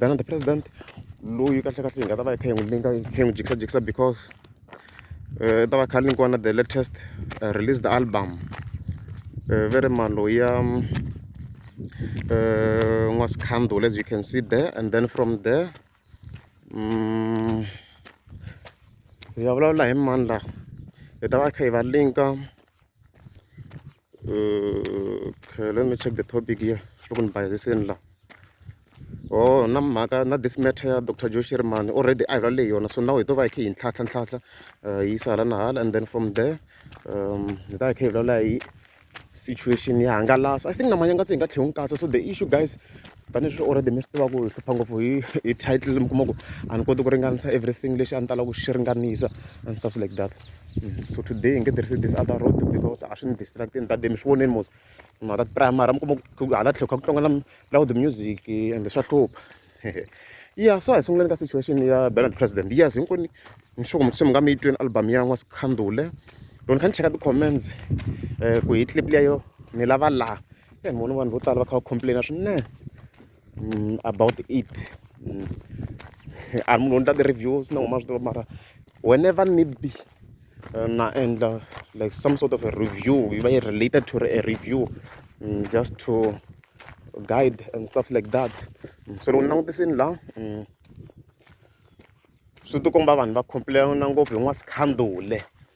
Than the president loyi kahlekahle hi nga ta va hi kha hi n'wi linga hi kha hi n'wi jikisajikisa because um ta va kha linkiwa na the latest uh, released album uh, ve ri maloyi ya um n'wasikhandula as you can see there and then from there um hi ya vulavula hi mani laha hi ta va kha hi va linka Uh, okay, let me check the topic here. Open by this in la. Oh, na mhaka na this matter ya Dr. Joe Sherman already I rally yona so now hi to va hi kha hi ntlhatlha ntlhatlha uh, yi sala na hala and then from there um hi ta hi kha hi vulavula hi situation ya hangalasa I think na manyanga tse hi nga tlhe hi n'wi katsa so the issue guys Tanihileswi already mi swi tiva ku hi hlupha ngopfu hi hi title mi kuma ku a ni koti ku ringanisa everything lexi a ni tala ku xi ringanisa and stuff like that mm, so today hi nge tirhisi this other road because a swi ni distractini tade mi swi voneni mos ma ta primary mi kuma ku hala tlhelo kha ku tlanga loud music and swa hlupha ya so hi sunguleni ka situation ya bernard president yes hinkwenu ni sure ku mi se mi nga mi yi tweni album ya n'wa sikhandule loko ni kha ni cheka ti-comments um ku hi clip leyo ni lava laha e ni vona vanhu vo tala va kha va complain swinene about it a munhu u endla ti-reviews na huma swi tiva mara whenever need be na endla like some sort of a review yi va yi related to a review just to guide and stuff like that so loko ni langutisini la swi tikomba vanhu va complain-a ngopfu hi n'wasikhandule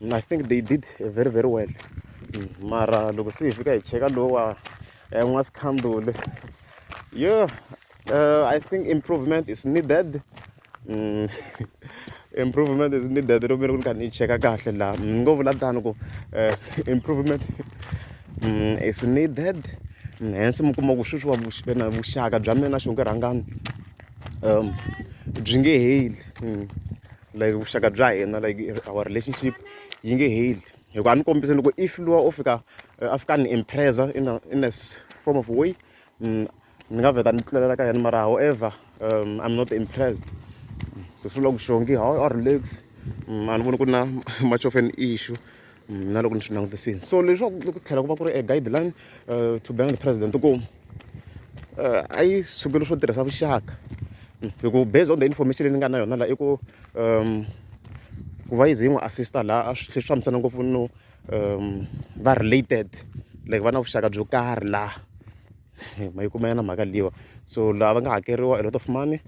I think they did very very well mara loko se hi fika hi cheka lowa eh, n'wa sikhanduli yo uh, i think improvement is needed mm. improvement is needed loko mi ri ku ni kha ni cheka kahle laha ni ngo vula tani ku eh, improvement mm, is needed mm, hence mi kuma ku sweswiwa na vuxaka bya mina na xonge rhangani um byi nge heli mm. like vuxaka bya hina like our relationship yi nge heli hikuva a ni kombise loko if luwa o fika eh, a fika ni impresa in a, in a form of way mm, ni nga vheta ni tlulela ka yena mara however um, i'm not impressed so swi vula ku xongi how are legs mm, a ni voni ku na much of an issue na loko ni swi langutisini so leswaku ku tlhela ku va ku ri a guideline eh, to bank president ku eh, a yi sukeli swo tirhisa vuxaka hmm, hi ku based on the information leyi ni nga na yona la i ku um ku va yize yi n'wi assista laha a swi tlhe swi fambisana ngopfu no um va related like va na vuxaka byo karhi laha ma yi kuma yana mhaka liwa so laha va nga hakeriwa a lot of money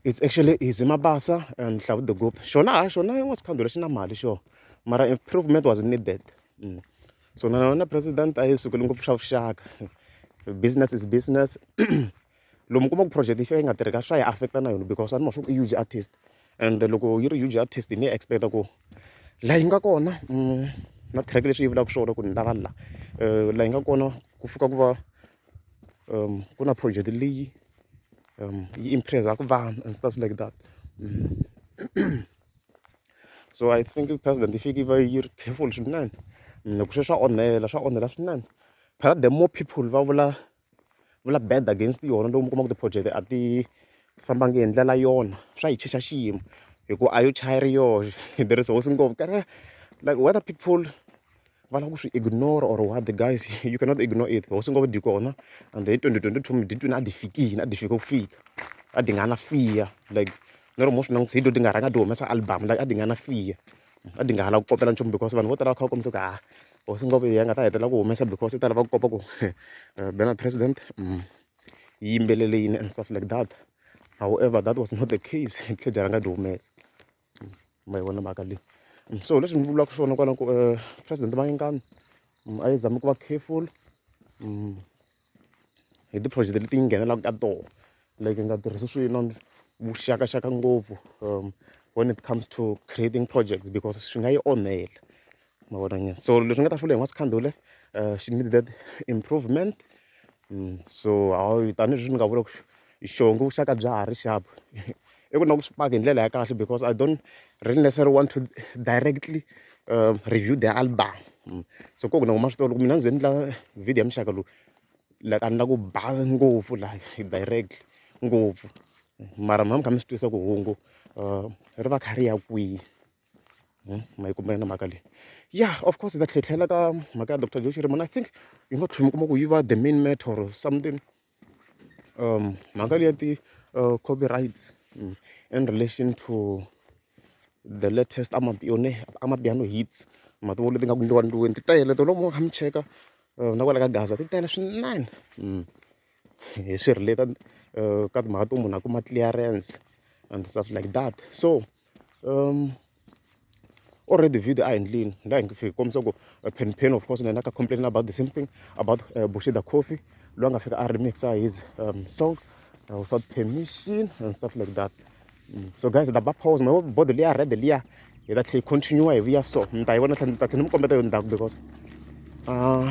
it's actually easy mabasa and hlavu the group xona ha xona yin'wa sikhandhu lexi na mali xona mara improvement was needed mm. so na wena president a yi sukeli ngopfu swa vuxaka business is business lomu kuma ku project yi fika yi nga tirhi ka swa yi affecta na yona because ani ma swa ku i huge artist and loko yi ri huge artist ni yi expecta ku laha yi nga kona mm, na track leswi yi vulaka swona ku ni lava la eh, laha yi nga kona ku fika ku va um, ku na project leyi um, yi impressaka vanhu and stuff like that mm. so i think president yi fiki yi va yi ri careful swinene loko swe swa onhela swa onhela swinene phela the more people va vula vula bad against yona loko mi kuma ku ti-project a ti fambangi hi ndlela yona swa yi chicha xiyimo hikuva a yo chaya ri yoxe there is hosi ngopfu like whether people va lava ku swi ignore or what the guys you cannot ignore it hosi ngo dyi kona and hi 2022 miditwini a dyi fikini a dyi fike ku fika a dyi nga na fiya like ni ri mo swi langutisa hi dyo ti nga rhanga ti humesa album like a dyi nga na fiya a dyi nga ha lava ku kopela nchumu because vanhu vo tala va kha va kombisa ku ha hosi ngo ya nga ta hetelela ku humesa because yi ta lava ku kopa ku eh, bena president mm, yi yimbelele yini and stuff like that however that was not the case tlhe dyi rhanga dyi humesa ma yi vona mhaka leyi so leswi ni vulaka swona kwala ku um president mayengani mm, a yi zami ku va careful mm, hi ti-project leti yi nghenelaka ka toho like nga tirhisi swino vuxakaxaka ngopfu um when it comes to creating projects because swi nga yi onhela ma vona nyana so leswi ni nga ta fula hi n'wana Sikhandule she need that improvement so hayi tanihileswi ni nga vula ku xivongo vuxaka bya ha ri xapu i ku na ku swi paka hi ndlela ya kahle because I don't really necessarily want to directly review the album so ku na ku ma swi tiva loko mina ni ze ni endla video ya muxaka lowu like a ni la ku ba ngopfu like directly ngopfu mara mi va mi kha mi swi twisisa ku hungu ri va kha ri ya kwihi. ma yi kuma yona mhaka leyi ya of course hi ta tlhetlhela ka mhaka ya doctor Joe Shirimani I think yi nga tlhela mi kuma ku yi va the main matter or something mhaka leyi ya ti copyrights in relation to the latest Amapiano Amapiano hits ma ti vona leti nga ku endliwa endliweni ti tele tolo mo kha mi cheka na kwala ka Gaza ti tele swinene hi swi relate ka timhaka to munhu a kuma clearance and stuff like that so. um already video a hi ndlini la hi fiki kombisa ku uh, pen pen of course na yena ka complain about the same thing about uh, bushida coffee loyi a nga fika a remixa his um, song uh, without permission and stuff like that mm. so guys da ba pause ma body liya red liya hi ta tlhe continue hi vuya so mi ta yi vona tlhe ni ta tlhe ni mi kombeta yo ndzhaku because uh,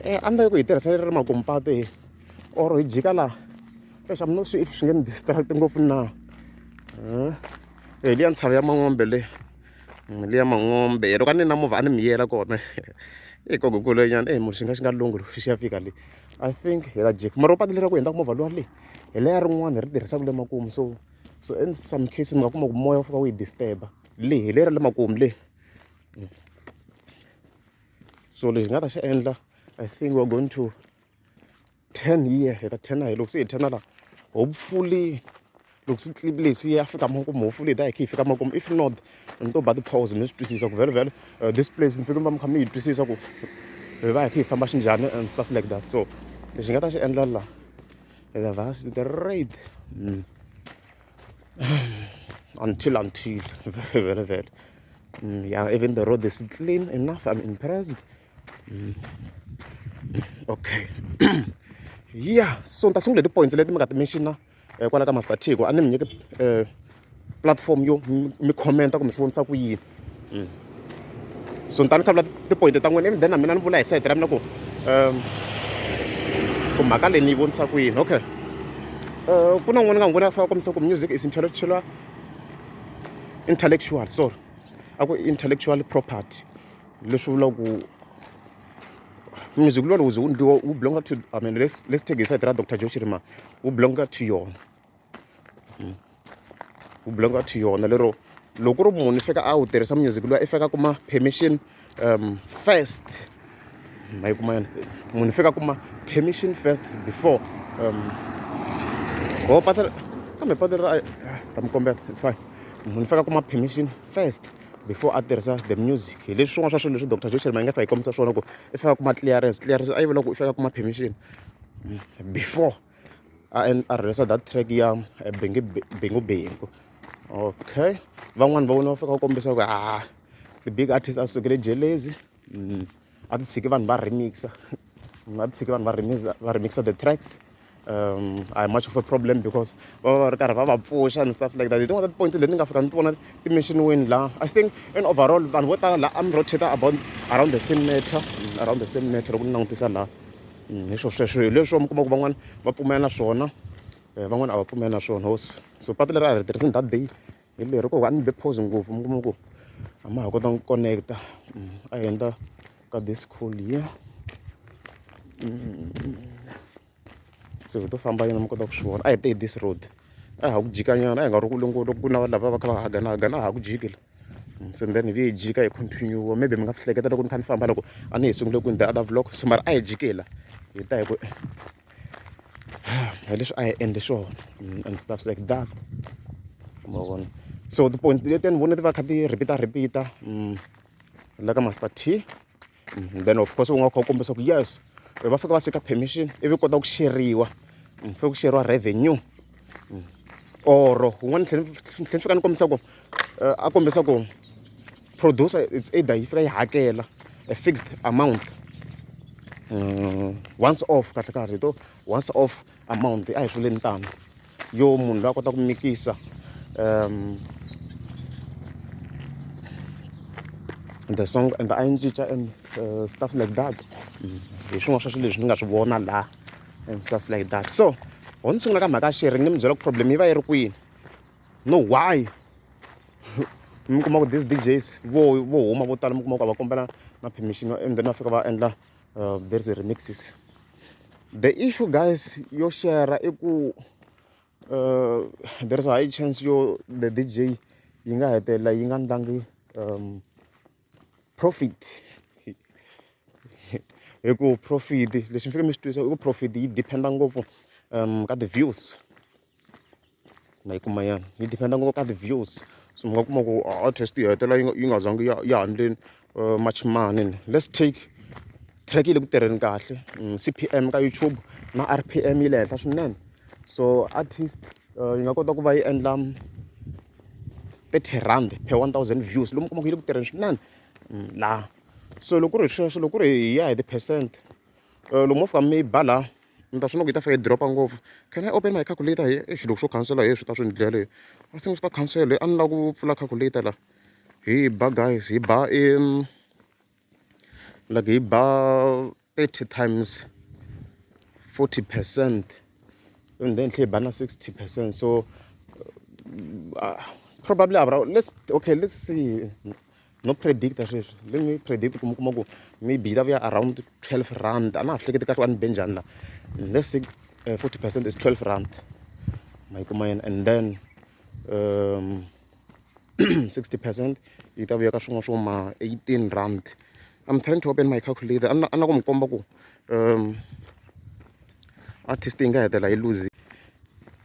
eh, a ni ta yi ku hi tirhisa ri ri makumpati or hi jika laha leswi a mi no swi swi nge ni distract ngopfu na e liya ntshava ya man'ombe le mm, liya man'ombe loko a ni na movha a ni mi yela kona i gogo kulenyana e munhu xi nga xi nga lungu loko xi ya fika le i think hi la jek mara upati leraku hindzaku movha luwa le hi leya rin'wana hi ri tirhisaka le makumu so so in some cases mi nga kuma ku moya wu fika wu yi disturba le hi leri le makumu le mm. so lexi nga ta xi endla i think we're going to ten hi ya heta ten hi loko se hi ten laha hopefully loko swi clip lexi ya fika makumu hopefully hi ta hi khe hi fika makumu if not mi to ba ti-pause mi swi twisisa ku vhele vhele uh, this place mi fike mi va mi kha mi yi twisisa ku hi va hi khe hi famba xinjhani and stuff like that so lexi nga ta xi endla laha the vast the rate mm. until until vhele vhele mm, yeah even the road is clean enough i'm impressed mm. okay yeah so ni ta sungula ti-points leti mi nga ti mention-a eh, kwala ka master tico a ni mi nyike um platform yo mi commenta kumbe swi vonisa ku yini mm. so ni ta ni khavula ti-point ta n'wina ivi then na mina ni vula hi sayiti ra mina ku um ku mhaka leyi ni yi vonisa ku yini okay um ku na n'wana nga n'wi vona a fana kombisa ku music is intellectual intellectual sorry a ku intellectual property leswi vulaka ku music lowani wu ze wu endliwa wu belong-a to I mean let's let's take hi side ra doctor Joe Shirimani wu belong-a to yona hmm. wu belong-a to yona lero loko ku ri munhu i fika a wu tirhisa music luwa i fika kuma permission um first ma yi kuma yona munhu i fika kuma permission first before um ho pata kambe pata ra ta mi kombela it's fine munhu i fika kuma permission first before a tirhisa the music hi leswi swin'wana swa swilo leswi doctor joshel mayingafa hi kombisa swona ku i faka kuma clearance clearance a yi vula ku i faka kuma permission mm, before a a rhurhisa that track ya eh, bengi bengu bengu okay van'wani va vona va fika va kombisa ku ha ah, the big artist a sukele jelezi mm. a ti tshiki vanhu va remix a ti tshiki vanhu va remix va remix the tracks um a hi much of a problem because va va va ri karhi va va pfuxa and stuff like that hi tin'wana ta tipoint leti ni nga fika ni ti vona ti mentionweni laha i think in overall vanhu vo tala laha a mi rotate about around the same matter mm, around the same matter loko ni langutisa laha mm, hi swo sweswo hi leswo mi kuma ku van'wana va pfumela na swona eh, van'wana a va pfumeli na swona so patu leri a hi ri tirhisini that day hi leri ko a ni be pause ngopfu mi kuma ku a ma ha kota ku connect-a mm, a hi endla ka this call here mm. so hi to famba yena mi kota ku swi vona a hi te hi this road a ha ku jikanyana a hi nga ri ku longolo ku na lava va kha va hagana hagana a ha ku jiki la mm, so then hi vi hi jika hi continue maybe mi nga swi hleketa loko ni kha ni famba loko a ni hi sungule ku ni the other vlog so mara a hi jiki la hi ta hi ku hi leswi a hi endle swona and stuff like that ma vona so ti-point letiya ni vona ti va kha ti repeat-a repeat-a la ka master t mhm, then of course u nga kha u kombisa ku yes va fika va sika permission ivi kota ku xeriwa mm, fika ku xeriwa revenue mm. or un'wana ni tlhela ni fika ni kombisa ku eh, a kombisa ku producer it's either yi fika yi hakela a fixed amount um, once off kahle kahle hi to once off amount a hi swileni tano yo munhu loyi a kota ku mikisa um the song and a yi cinca and uh, stuff like that hi swin'wana swa swilo leswi ni nga swi vona laha and stuff like that so ho ni sungula ka mhaka sheri ni mi byela ku problem yi va yi ri kwini no why mi kuma ku this D_Js vo vo huma vo tala mi kuma ku a va kombela na permission and then va fika va endla uh, there is a remixes the issue guys yo share i ku uh, there is a high chance yo the DJ yi nga hetelela yi nga ndlangi um, profit hi ku profit leswi mi fike mi swi twisa i ku profit yi dependa ngopfu um ka ti-views Ma yi kuma yona yi depend-a ngopfu ka ti-views so mi nga kuma ku artist yi hetelela yi nga yi nga zangi ya ya haleni much mani ni lets take track yi le ku tirheni kahle C_P_M ka YouTube na R_P_M yi le henhla swinene so artist yi nga kota ku va yi endla thirty rhandi per one thousand views lomu u kuma ku yi le ku tirheni swinene laha so loko ku ri hi sweswo loko ku ri hi ya hi ti-percent lomu wo fika mi yi ba laha. ni ta swi vona ku yi ta fika yi drop-a ngopfu can I open my calculator here eish loko swo khansela heyi swi ta swi ni dlele I think swi ta khansela a ni lava ku pfula calculator la hi ba guys hi ba i like hi ba thirty times forty percent and then tlhe hi ba na sixty percent so uh, probably around let's okay let's see no predict-a sweswi let me predict ku mi kuma ku maybe yi ta vuya around twelve rand a na ha hleketi kahle a ni be njhani laha let's say eh, forty percent is twelve rand ma yi kuma yena and then um, sixty percent yi ta vuya ka swin'wana swo ma eighteen rand i'm trying to open my calculator a na ku mi komba ku um artist yi nga hetelela yi lose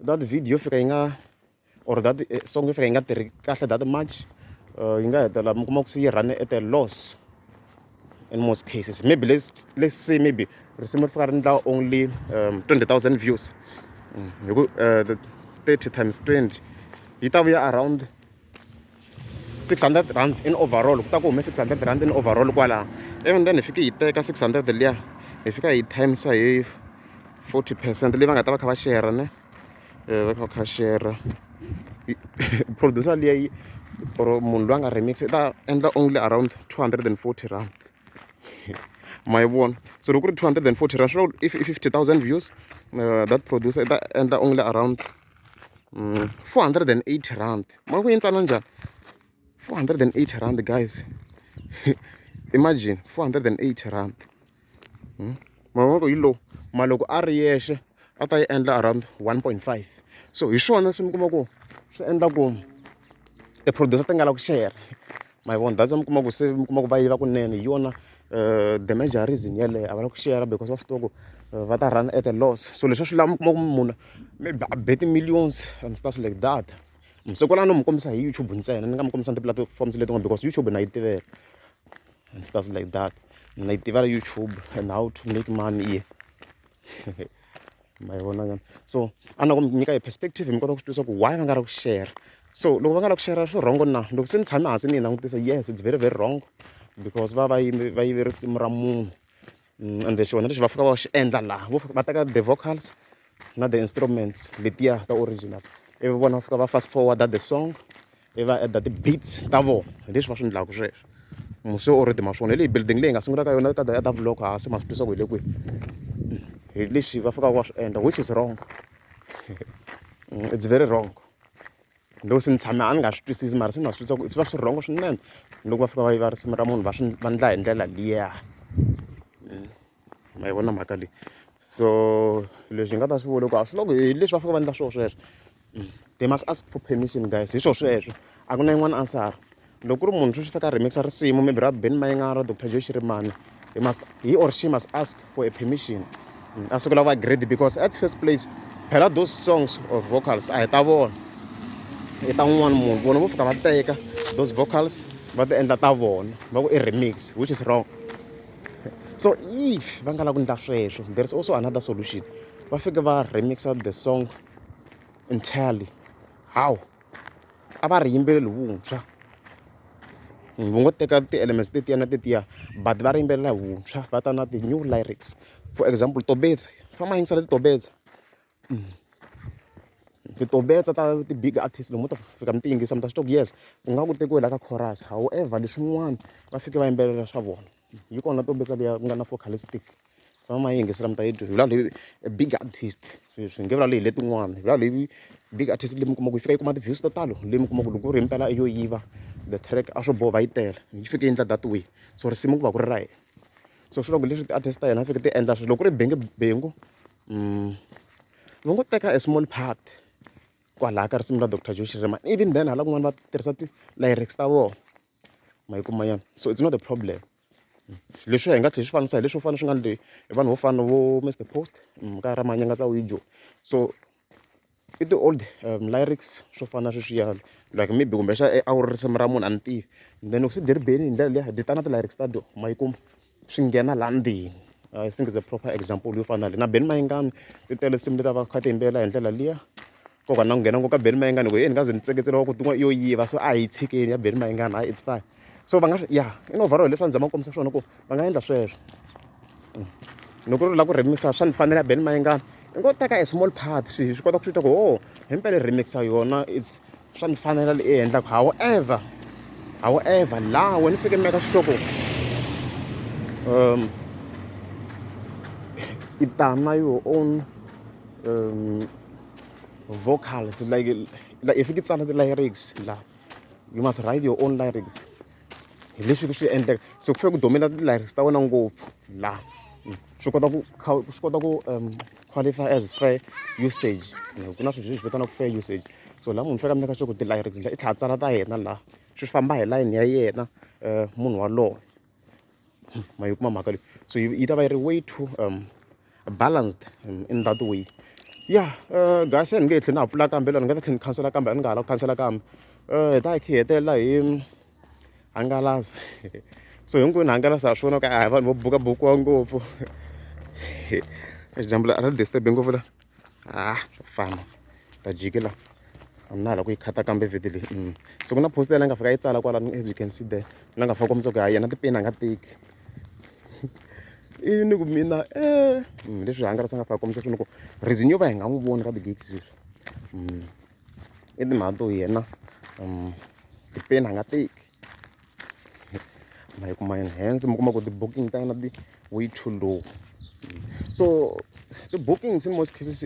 That video yo fika yi nga or that eh, song yo fika yi nga tirhi kahle that much uh, yi nga hetelela mi kuma ku se yi run at a loss in most cases maybe let's, let's say maybe risimu ri fika ri endla only um, 20000 views mm, hi ku uh, 30 times 20 yi ta vuya around 600 rand in overall ku ta ku hume 600 rand in overall kwalaho even then hi fike hi teka 600 liya hi fika hi timesa hi 40 percent leyi va nga ta va kha va shera ne eh, va kha va kha shera producer liya yi or munhu loyi a nga remix i ta endla only around 240 rand ma yi vona so loko ku ri 240 rand swi vula if 50 000 views uh, that producer i ta endla only around mm, 480 rand ma ku yi ntsana njhani 480 rand guys imagine 480 rand hmm? mavoko hi lowu ma loko a ri yexe a ta yi endla around 1.5 so hi swona swi mi kuma ku swi endla ku ti-producer ti nga la ku share ma yi vona that's why mi kuma ku se mi kuma ku va yiva kunene hi yona um the major reason yeleyo a va la ku share because va swi tiva ku eh, va ta run at a loss so leswi a swi lava mi kuma ku munhu maybe a be ti-millions and stuff like that masiku lana no mi kombisa hi youtube ntsena ni nga mi kombisa ni ti-platforms letin'wana because youtube na yi tivela and stuff like that na yi tivela youtube and how to make money here ma yi vona nyana so a na ku mi nyika hi perspective mi kota ku swi twisisa ku why va nga ri ku share so loko va nga la ku share swi wrong na loko se ni tshame hansi ni yi langutisa yes it's very very wrong because va va yime va yive risimu ra munhu mm, and then xivona lexi va fika va xi endla laha vo va teka the vocals na the instruments letiya ta original ivi vona va fika va fast forward the song i va add-a ti-beats ta vona hi leswi va swi endlaka sweswo muse o ridima swona hi leyi building leyi nga sungula ka yona ka daya ta vlog hansi ma swi twisa ku hi le kwihi hi leswi va fikaka va swi endla which is wrong it's very wrong loko se ni tshame a ni nga swi twisisi mara se ni va swi twisa ku swi va swi rhongo swinene loko va fika va yiva risimu ra munhu va swi va endla hi ndlela liya. ma yi vona mhaka leyi so leswi hi nga ta swi vula ku a swi loko hi leswi va fanele va endla swona sweswo mm. they must ask for permission guys hi swo sweswo a ku na yin'wana answer loko ku ri munhu sweswi faka remixa risimu maybe ra ben mayingara dr joe xirimani he must he or she must ask for a permission mm, a sukela va grade because at first place phela those songs of vocals a hi ta vona hi ta un'wana munhu vona vo fika va teka those vocals va ti endla ta vona va ku i remix which is wrong so if va nga lavi ku endla sweswo there is also another solution va fike va remixa the song entirely how a va ri yimbeleli vuntshwa vo ngo teka ti-elements tetiya na tetiya but va ri yimbelela hi vuntshwa va ta na ti-new lyrics for example tobetsa famba yingisela titobetsa ti tombetsa ta ti-big artist lomu ta fika mi ti yingisa mi ta swi twa ku yes ku nga ku tekiwe la ka chorus however leswin'wana va fike va yimbelela swa vona yi kona tombetsa liya ku nga na focalistic famba ma yi yingisela mi ta yi twa hi vula leyi big artist swi swi nge vulavuli hi letin'wana hi vula leyi big artist leyi mi kuma ku yi fika yi kuma ti-views to talo leyi mi kuma ku loko ku ri hi mpela yo yiva the track a swo boha va yi tele yi fike yi endla that way so risimu ku va ku ri ra yena so swi vula ku leswi ti-artist ta yena a fike ti endla sweswo loko ku ri bengebengu va ngo teka a small part kwalaya ka risimu ra Doctor Joe Shirimani even then hala kun'wana va tirhisa ti-lyrics ta vona ma yi kuma nyana so it's not a problem leswiya hi nga tlhela hi swi fanisa hi leswo fana swi nga hi vanhu vo fana vo Mister Post ka ra Manyangatsa Wijo so. I ti-old lyrics swo fana na sweswiyani like maybe kumbexana a wu ri risimu ra munhu a ni tivi then loko se byi ri bele hi ndlela liya byi ta na ti-lyrics ta byona ma yi kuma swi nghena laha ndzeni I think it's a proper example yo fana na leyi na Benny Mayengani ti tele tinsimu leti a va kha ti yimbelela hi ndlela liya ku hava na ku nghena ngopfu ka Benny Mayengani hi ku heyi ni nga ze ni tseketsela wa ku tin'wana i yo yiva so a hi yi tshikeni ya Benny Mayengani hayi it's fine. so va nga ya i no overall leswi a ni zama ku kombisa swona ku va nga endla sweswo mm. loko ri lava ku remisa swa ni fanele ya beni mayengana i ngo teka a small part swi swi kota ku swi twa ku o oh, hi mpele remixa yona its swa ni fanela leyi e endlaka however however laha wena fike meka xisoko um i tana your own um vocals like like if you get some of the lyrics la you must write your own lyrics hi leswi ku swi endleka so ku fanele ku domela ti-lyrics ta wena ngopfu la mm. swi kota ku swi kota ku um qualify as fair usage ku na swilo leswi vitanaka fair usage so la munhu fanele a meka sure ku ti-lyrics ndla i tlhela a tsala ta yena la swi famba hi layini ya yena um munhu walowo ma yi kuma mhaka leyi so yi yi ta va yi ri way to balanced in that way ya guys a ni nge he tlheli na ha pfula kambe ni nga ta tlhela ni khansela kambe a ni nga ha lavi ku khansela kambe hi ta hi kha hi hetelela hi hangalasa so hinkwenu hangalasa ha swona ku a hi vanhu vo buka bukiwa ngopfu dyambu a ri disturb-i ngopfu la. ha swa fana ta jikela a na hala ku yi khata kambe vhete leyi mm. so ku na post yala nga fika yi tsala kwalano as you can see there na nga fika kombisa ku ha yena tipeni a nga teki i ni ku mina e leswi hangalasa nga fika kombisa swona ku reason yo va hi nga n'wi voni ka ti-gigs sweswi mm. i timhaka to yena mm. tipeni a nga teki ma yi kuma enhance mi kuma ku ti-booking ta na ti-way too low so ti-bookings in most cases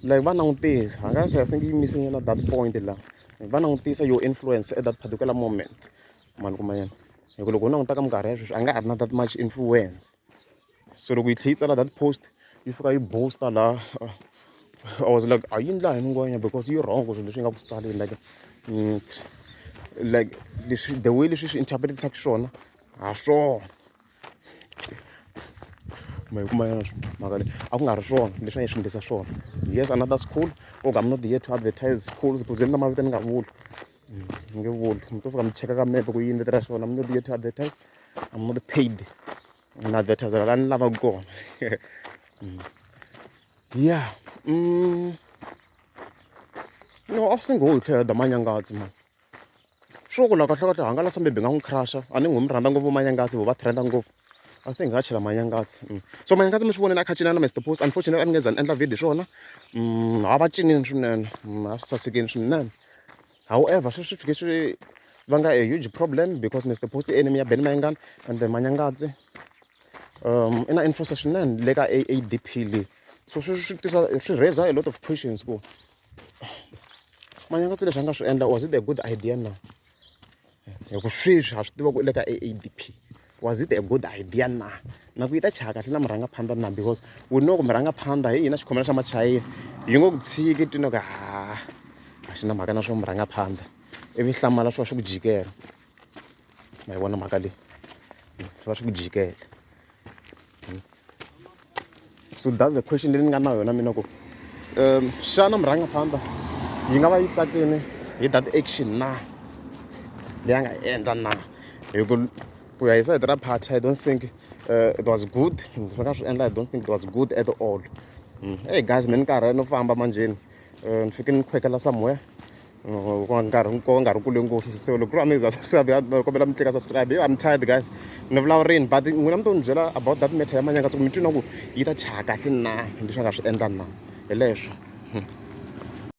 like va langutisa a nga se i think yi missing na that point la va langutisa yo influence at that particular moment ma ni kuma yini hi ku loko u languta ka minkarhi ya sweswi a nga ha ri na that much influence. so loko yi tlhe yi tsala that post yi fika yi boost-a la I was like a yi endla hi mungwenya because yi wrong swilo leswi yi nga ku tsaleni like mm, like leswi the way leswi swi interpret-isaka swona ha swona ma yi kuma yona mhaka leyi a ku nga ri swona leswi a yi swi endlisa swona yes another school okay i'm not here to advertise schools because ni na mavito ni nga vuli mm, ni nge vuli mi to fika mi cheka ka mepe ku yi endletela swona i'm not here to advertise i'm not paid ni na advertiser la ni lavaka kona mm. ya mm. no a swi ngo hi tlhela da manyangatsi mani swo ku la kahle kahle hangalasa maybe nga n'wi crusha a ni n'wi mi rhandza ngopfu manyangatsi vo va trenda ngopfu I think nga chela manyangatsi mm. so manyangatsi mi swi vonile a kha cinana Mister Post unfortunately a ni nge za ni endla video swona mm, a va cinini swinene a swi sasekini swinene however sweswi fike swi va nga a huge problem because ni ti post enemy ya ben mayengana and the manyangadzi um i na influence swinene le ka adp leyi so swi swi tisa swi raise a lot of questions ku manyangadzi leswi a nga swi endla was it a good idea na hi ku sweswi ha swi tiva ku u le ka aadp was it a good idea na na ku yi ta chaya kahle na murhangaphandha na because we know ku murhangaphandha hi hina xikhomela xa machayina yi ngo ku tshiki twino ka ha a xi na mhaka na swa murhangaphandha ivi hlamala swi va swi ku jikela ma yi vona mhaka leyi swi va swi ku jikela so thats the question leyi ni nga na yona mina ku um xana murhangaphandla yi nga va yi tsakini hi that action na leyi a nga endla na hi ku ku ya hi sayiti ra party i don't think uh, it was good swi nga swi endla i don't think it was good at all mm. hey guys me ni karhi no famba manjheni um ni fike ni khwekela somewhere nkarhi nkoka nkarhi kule ngopfu so loko ku ri amazing subscribe ya kombela mi tleka subscribe yo i'm tired guys ni vulavurini but n'wina mi to ni byela about that matter ya manyanga ku mi twi na ku yi ta chaya kahle na leswi a nga swi endla na hi leswo